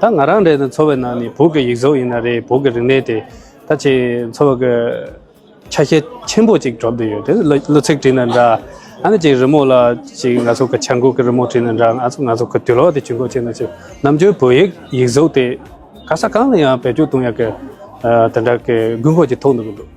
ད་ང་རང་རེད་ན་འཚོ་བའི་ནང་ནས་བོད་ཀྱི་ཡིག་གཟུགས་ཡིན་ན་རེད་བོད་ཀྱི་རིག་གནས་དེ་ད་ཆེ་འཚོ་བ་གི་ཆ་ཤས་ཆེན་པོ་ཅིག་གྲུབ་འདི་ཡོད་དེ་གླུ་ཚིག་བྲིས་ན་འདྲ་ཨ་ནི་ཅིག་རི་མོ་ལ་ཅིག་ང་ཚོ་གི་བྱ་འགུག་གི་རི་མོ་བྲིས་ན་འདྲ་ང་ཚོ་ང་ཚོ་གི་དུས་ལོག་དེ་ཇུས་འགོད་བྱས་ན་ཅིག་ནམ་རྒྱུན་བོད་ཡིག་ཡིག་གཟུགས་དེ་ག་ས་གང་ལ་ཡང་བེད་སྤྱོད་གཏོང་ཡག་གི་དེ་འདྲ་གི་དགོས་མཁོ་ཅིག་ཐུག་འདུག་གི་འདུག།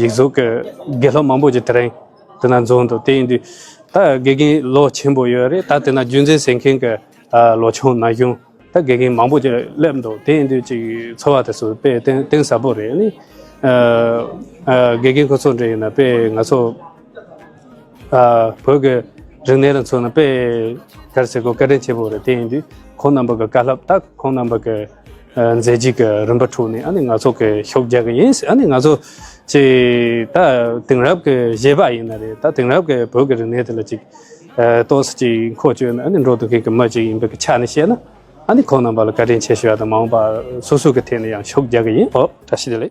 ཡིག་གཟུགས་ཀྱི་དགེ་སློབ་མང་པོ་ཞིག་དེ་རིང་དེ་ན་འཛོམས་འདུག་དེ་ཡིན་དུས་ད་དགེ་རྒན་ལོ་ཆེན་པོ་ཡོད་རེད་ད་དེ་ན་རྒྱུད་འཛིན་ཟེར་མཁན་གྱི་ལོ་ཆུང་ན་གཞོན་ད་དགེ་རྒན་མང་པོ་ཞིག་སླེབས་འདུག་དེ་ཡིན་དུས་ཅིག་འཚོ་བ་དེ་ཚོ་དཔེ་གཏིང་ཟབ་པོ་རེད་ནི། དགེ་རྒན་ཁོ་ཚོ་འདྲ་ཡིན་ན་དཔེ་ང་ཚོ་བོད་ཀྱི་རིག་གནས་ལ་མཚོན་ན་དཔེ་ཁ་རེ་བྱེད་དགོས་སྐད་འཕྲིན་ཆེན་པོ་རེད་དེ་ཡིན་དུས་ཁོང་རྣམ་པ་གྱི་བཀའ་སློབ་ད་ཁོང་རྣམ་པ་གྱི། མཛད་རྗེས་ཀྱི་རིམ་པ་དྲུག་ནི་ཨ་ནི་ང་ཚོ་གི་ཤོག་རྒྱག་གི་ཡིན་ཨ་ནི་ང་ཚོ་ཅི་ད་དེང་རབས་ཀྱི་གཞས་པ་ཡིན་ན་རེད་ད་དེང་རབས་ཀྱི་བོད་ཀྱི་རིག་གནས་དེ་ལ་ཅིག་གཏོགས་སུ་ཅིག་མཁོ་སྤྱོད་ན་ཨ་ནི་འགྲོ་དུ་མཁན་གྱི་མི་ཅིག་ཡིན་པའི་ཀྱི་ཆ་ནས་བཤད་ན་ཨ་ནི་ཁོང་རྣམ་པ་ལ་བཀའ་དྲིན་ཆེ་ཞུ་བ་དང་མ་འོངས་པ་སོ་སོ་གྱི་ཐད་ནས་ཡང་ཤོག་རྒྱག་གི་ཡིན་ཨོ་ད་ཤི་ད་ལེ།